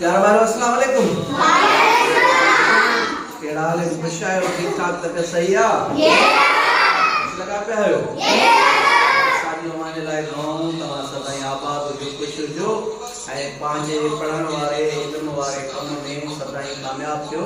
پيارا ڀائرو السلام عليڪم. وعليڪم السلام. ڪهڙا حال آهن خوش آهيو ٺيڪ ٺاڪ طبيعت صحيح آ. Yes sir. اچي لڳا پيا آهيو. Yes sir. اسان جي اوهان جي لاء دعائون توهان سدائين آباد هجو خوش هجو ۽ پنهنجي پڙهڻ واري علم واري ڪم ۾ سدائين ڪامياب ٿيو.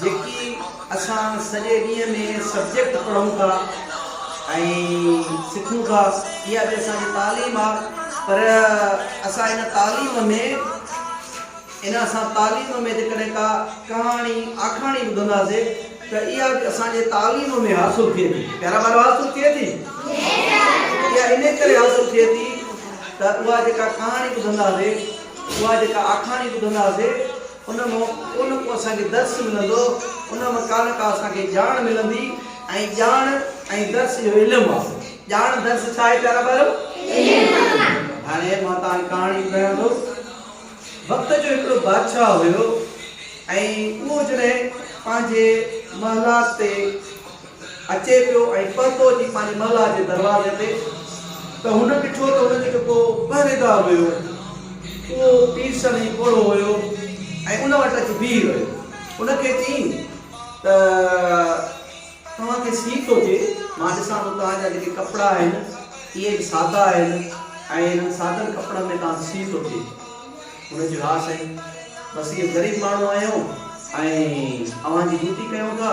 جيڪي اسان سڄي ڏينهن ۾ سبجيڪٽ پڙهون ٿا ۽ سکون ٿا اها به اسان جي تعليم آ پر اسان ان تعليم ۾ ان اسان تعليم ۾ جيڪڏهن ڪا ڪهاڻي آکاڻي ٻڌنداسي ته اها به اسان جي تعليم ۾ حاصل ٿئي ٿي پيارا ٻارو حاصل ٿئي ٿي اها ان ڪري حاصل ٿئي ٿي ته اها جيڪا ڪهاڻي ٻڌنداسي اها جيڪا آکاڻي ٻڌنداسي ان مان ڪو نه ڪو اسان کي درس ملندو، ان مان ڪا نه ڪا اسان کي ڄاڻ ملندي ۽ ڄاڻ ۽ درس اهو علم آ. ڄاڻ درس ڇا آهي پيارا ٻارو؟ علم آ. هاڻي مان توهان کي ڪهاڻي ٻڌايان ٿو. وقت جو هڪڙو بادشاهه هيو ۽ اهو جڏهن پنهنجي محلات تي اچي پيو ۽ پهتو جي پنهنجي محلا جي دروازي تي ته هن ڏٺو ته هن جو جيڪو پهريدار هيو اهو پيرسن ۽ پوڙهو هيو ۽ ان وٽ اچي بيهي رهيو ان کي چيائين ته توهان کي سيء ٿو ٿئي مان ڏسان ٿو توهان جا جيڪي ڪپڙا آهن اهي به سادا آهن ۽ انهن سادن ڪپڙن ۾ توهان کي سيء ٿو ٿئي هن چيو ها سائين بس اهي غريب ماڻهو آهيون ۽ اوهان جي ڊيوٽي ڪيون ٿا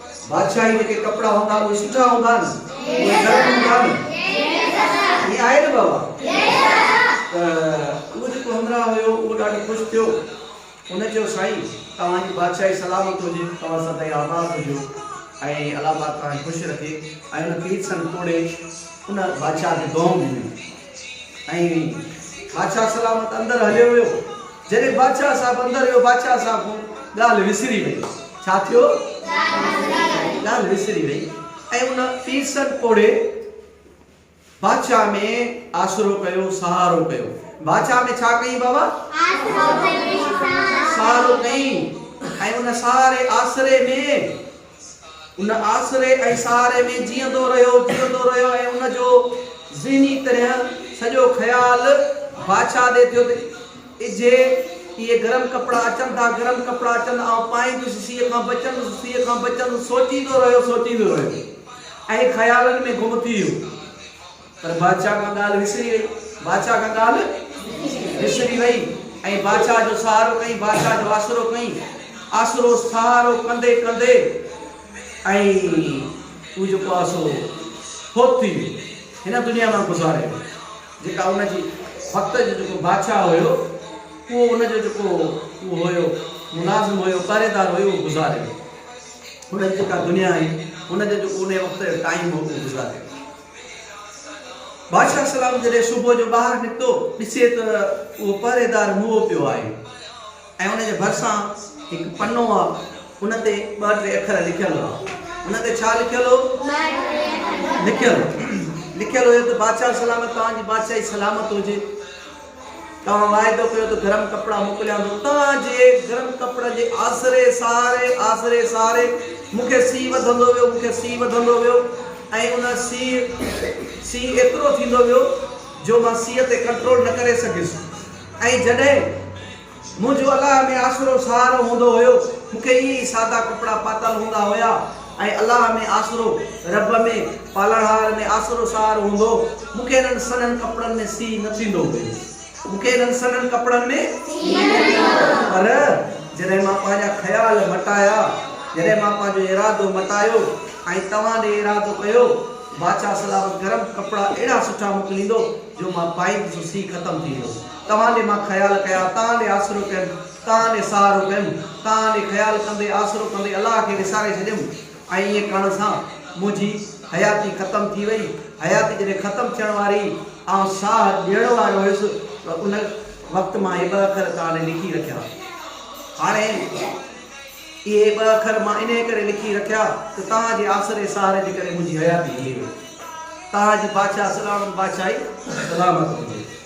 بادشاهي جيڪي ڪپڙا هوندا اهي سٺا هوندا نه اهي گرم هوندا نه ائين آهي نه بابا ته اهو جيڪو همراهه هيو اهو ڏاڍو خوش ٿيو ان چيو سائين توهان جي بادشاهي سلامت هجي توهان سدائين آباد هجو ۽ الله پاڪ توهان کي خوش رکي ۽ ان کي سن توڙي ان بادشاهه کي دونهون ڏنيون ائين بادشاهه سلامت اندر هليو ويو. جڏهن بادشاهه صاحب اندر ويو بادشاهه صاحب کان ڳالهه وسري وئي. ڇا ٿيو؟ ڳالهه وسري وئي ۽ ان پيرسن پوڙهي بادشاهه ۾ آسرو ڪيو، سهارو ڪيو. بادشاهه ۾ ڇا ڪيئي بابا؟ سهارو ڪيئي ۽ ان سهاري آسري ۾ ان آسري ۽ سهاري ۾ جيئندو رهيو، جيئندو رهيو ۽ ان جو ذهني طرح سڄو خيال بادشاهه ڏي ٿيو ته اجهي اهي گرم ڪپڙا اچن ٿا، گرم ڪپڙا اچن، آئون پائيندس، سيء کان بچندس، سيء کان بچندس، سوچيندو رهيو، سوچيندو رهيو ۽ خيالن ۾ گم ٿي ويو. پر بادشاهه کان ڳالهه وسري وئي. بادشاهه کان ڳالهه وسري وئي ۽ بادشاهه جو سهارو ڪئين، بادشاهه جو آسرو ڪئين، آسرو سهارو ڪندي ڪندي ۽ هو جيڪو آهي سو فوت ٿي ويو، هن دنيا مان گذاري ويو. جيڪا ان جي وقت جو جيڪو بادشاهه هيو، اهو ان جو جيڪو اهو هيو، ملازم هيو، پهريدار هيو، اهو گذاري ويو. ان جي جيڪا دنيا هئي، ان جو جيڪو انهيء وقت جو ٽائيم هو، اهو گذاري ويو. بادشاهه سلام جڏهن صبح جو ٻاهر نڪتو ڏسي ته اهو پهريدار موئو پيو آهي ۽ ان جي ڀرسان هڪ پنو آ ان تي ٻه ٽي اکر لکيل هئا ان تي ڇا لکيل هو لکيل لکيل هيو ته بادشاهه سلامت توهان جي بادشاهي سلامت هجي توهان واعدو ڪيو ته گرم ڪپڙا موڪليان ٿو. توهان جي گرم ڪپڙن جي آسري ساري آسري ساري مون کي سيء وڌندو ويو، مون کي سيء وڌندو ويو ۽ ان سيء سيء ايترو ٿيندو ويو جو مان سيء تي ڪنٽرول نه ڪري سگهيس ۽ جڏهن منهنجو الله ۾ آسرو سهارو هوندو هيو. مون کي ائين ئي سادا ڪپڙا پاتل هوندا هيا ۽ الله ۾ آسرو، رب ۾، پالڻهار ۾ آسرو سهارو هوندو هو. مون کي انهن سنهن ڪپڙن ۾ سيء نه ٿيندو هيو. مون کي انهن سنهن ڪپڙن ۾ سيء نه ٿيندو هيو. پر جڏهن مان پنهنجا خيال مٽايا، جڏهن مان پنهنجو ارادو مٽايو ۽ توهان ڏي ارادو ڪيو، بادشاهه سلامت گرم ڪپڙا اهڙا سٺا موڪليندو جو مان پائيندس سو سيء ختم ٿي ويو. توهان ڏي مان خيال ڪيا، توهان ڏي آسرو ڪيم، توهان ڏي سهارو ڪيم، توهان ڏي خيال ڪندي، آسرو ڪندي الله کي وساري ڇڏيم ۽ ائين ڪرڻ سان منهنجي حياتي ختم ٿي وئي، حياتي جڏهن ختم ٿيڻ واري هئي، آئون ساهه ڏيڻ وارو هيس ته ان وقت مان هي ٻه اکر توهان ڏي لکي رکيا. هاڻي اهي ٻه اکر مان انهيء ڪري لکي رکيا ته توهان جي آسري سهاري جي ڪري منهنجي حياتي هلي وئي. توهان جي بادشاهه سڏاڻن بادشاهي سلامت هجي.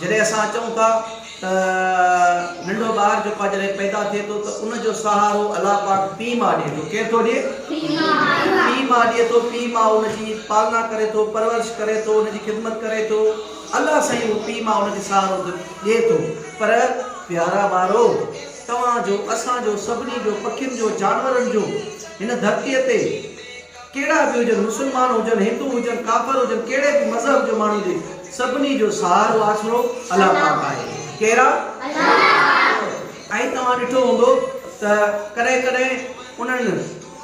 جڏهن اسان اچون ٿا ته ننڍو ٻار جيڪو آهي جڏهن پيدا ٿئي ٿو ته ان جو سهارو الله پاڪ پيء ماء ڏئي ٿو، ڪير ٿو ڏئي؟ پيء ماء ڏئي ٿو، پيء ماء ان جي پالنا ڪري ٿو، پرورش ڪري ٿو، ان جي خدمت ڪري ٿو، الله سائين اهو پيء ماء ان کي سهارو ڏئي ٿو پر پيارا ٻارو توهان جو، اسان جو، سڀني جو، پکين جو، جانورن جو هن ڌرتيء تي. ڪهڙا به هجن، مسلمان هجن، هندو هجن، ڪافر هجن، ڪهڙي به مذهب جو ماڻهو هجي، سڀني جو سهارو آسرو الله پاڪ آهي. ڪير آ؟ ائين توهان ڏٺو هوندو ته ڪڏهن ڪڏهن انهن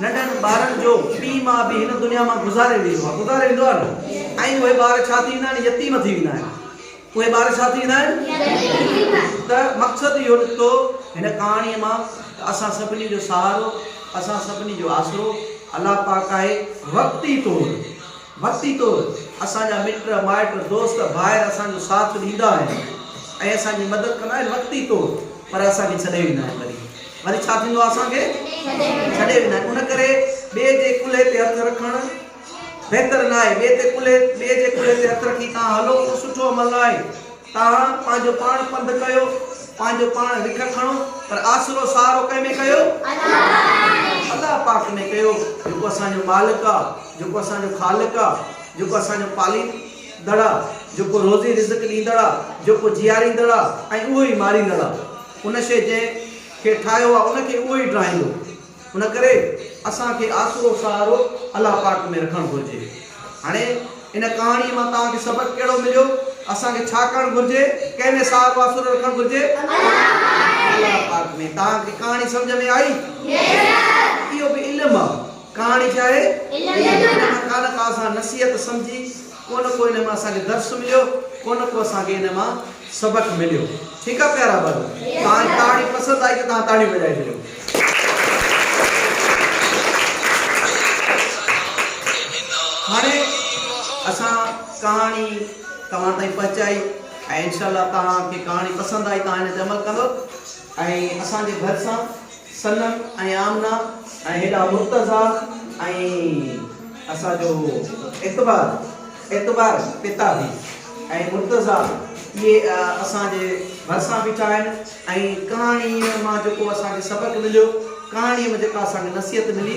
ننڍن ٻارن جو پيء ماء به هن دنيا مان گذاري ويندو آهي، گذاري ويندو آهي نه؟ ۽ اهي ٻار ڇا ٿي ويندا آهن؟ يتيم ٿي ويندا آهن. اهي ٻار ڇا ٿي ويندا آهن؟ ته مقصد اهو نڪتو هن ڪهاڻيء مان ته اسان سڀني جو سهارو، اسان سڀني جو آسرو الله پاڪ آهي. وقتي طور وقتي طور اسان جا مٽ مائٽ دوست ڀائر اسان جو ساٿ ڏيندا آهن ۽ اسان جي مدد ڪندا آهن وقتي طور پر اسان کي ڇڏي ويندا آهن وري وري ڇا ٿيندو آهي اسان کي ڇڏي ويندا آهن ان ڪري ٻئي جي ڪلهي تي هٿ رکڻ بهتر ناهي، ٻئي تي ڪلهي ٻئي جي ڪلهي تي هٿ رکي توهان هلو اهو سٺو عمل ناهي، توهان پنهنجو پاڻ پنڌ ڪيو، پنهنجو پاڻ رک کڻو پر آسرو سهارو ڪنهن ۾ ڪيو؟ الله پاڪ ۾ ڪيو جيڪو اسان جو مالڪ آ، جيڪو اسان جو خالق آ، جيڪو اسان جو پاليندڙ آ، جيڪو روزي رزق ڏيندڙ آ، جيڪو جياريندڙ آ ۽ اهو ئي ماريندڙ آ، ان شيء جنهن کي ٺاهيو آ ان کي اهو ئي ڊاهيندو. ان ڪري اسان کي آسرو سهارو الله پاڪ ۾ رکڻ گهرجي. هاڻي ان ڪهاڻيء مان توهان کي سبق ڪهڙو مليو؟ اسان کي ڇا ڪرڻ گهرجي؟ ڪنهن ۾ سهارو آسرو رکڻ گهرجي؟ الله پاڪ ۾. توهان کي ڪهاڻي سمجهه ۾ آئي؟ اهو به علم آ. ڪهاڻي ڇا آهي؟ علم آ. ان مان ڪانه ڪا اسان نصيحت سمجهي. ڪو نه ڪو انهن مان اسان کي درس مليو ڪو نه ڪو اسان کي انهن مان سبق مليو ٺيڪ آ پيارا ڀائيو توهان تاڙي پسند آئي ته توهان تاڙيون وڄائي ڇڏيو. هاڻي اسان ڪهاڻي توهان تائين پهچائي ۽ انشاء الله توهان کي ڪهاڻي پسند آئي توهان ان تي عمل ڪندو ۽ اسان جي ڀرسان صنم ۽ آمنه ۽ هيڏانهن مرتضيٰ ۽ اسان جو اعتبار اعتبار پتا به ۽ مرتضيٰ اهي اسان جي ڀرسان بيٺا آهن ۽ ڪهاڻيء مان جيڪو اسان کي سبق مليو ڪهاڻيء ۾ جيڪا اسان کي نصيحت ملي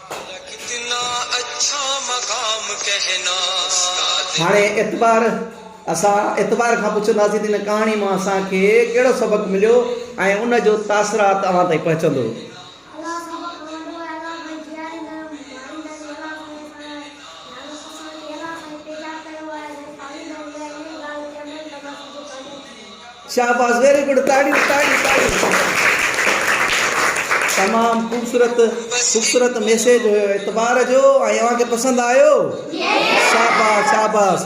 هاڻي اعتبار، اسان اعتبار کان پڇنداسين ته هن ڪهاڻي مان اسان کي ڪهڙو سبق مليو ۽ ان جو تاثرات اوهان تائين پهچندو. شاباس ويري گڊ تاڙيون تاڙيون تاڙيون تمام خوبصورت خوبصورت ميسيج هيو اعتبار جو ۽ اوهان کي پسند آيو شاباس شاباس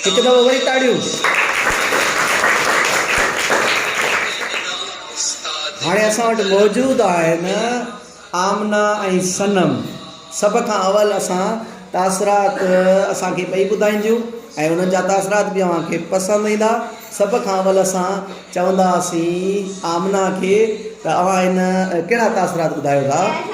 هڪ دفعو وري تاڙيون هاڻي اسان وٽ موجود آهن آمنه ۽ صنم سڀ کان اول اسان تاثرات اسان کي ٻئي ٻڌائينديون ۽ انهن جا تاثرات به اوهان کي پسند ايندا سڀ کان اول اسان چونداسين آمنه کي ته اوهان هن ڪهڙا تاثرات ٻڌايو ٿا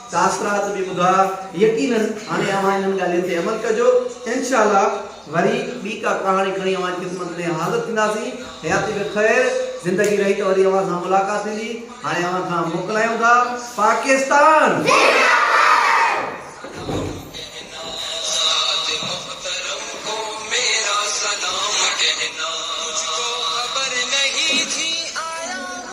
تاثرات به ٻڌايا يقينن هاڻي اوهان انهن ڳالهين تي عمل ڪجو انشاء الله وري ٻي ڪا ڪهاڻي کڻي اوهان جي خدمت ۾ حاضر ٿينداسين حياتي بخير زندگي رهي ته وري اوهان سان ملاقات ٿيندي هاڻي اوهان کان موڪلايون ٿا پاڪستان زنداباد.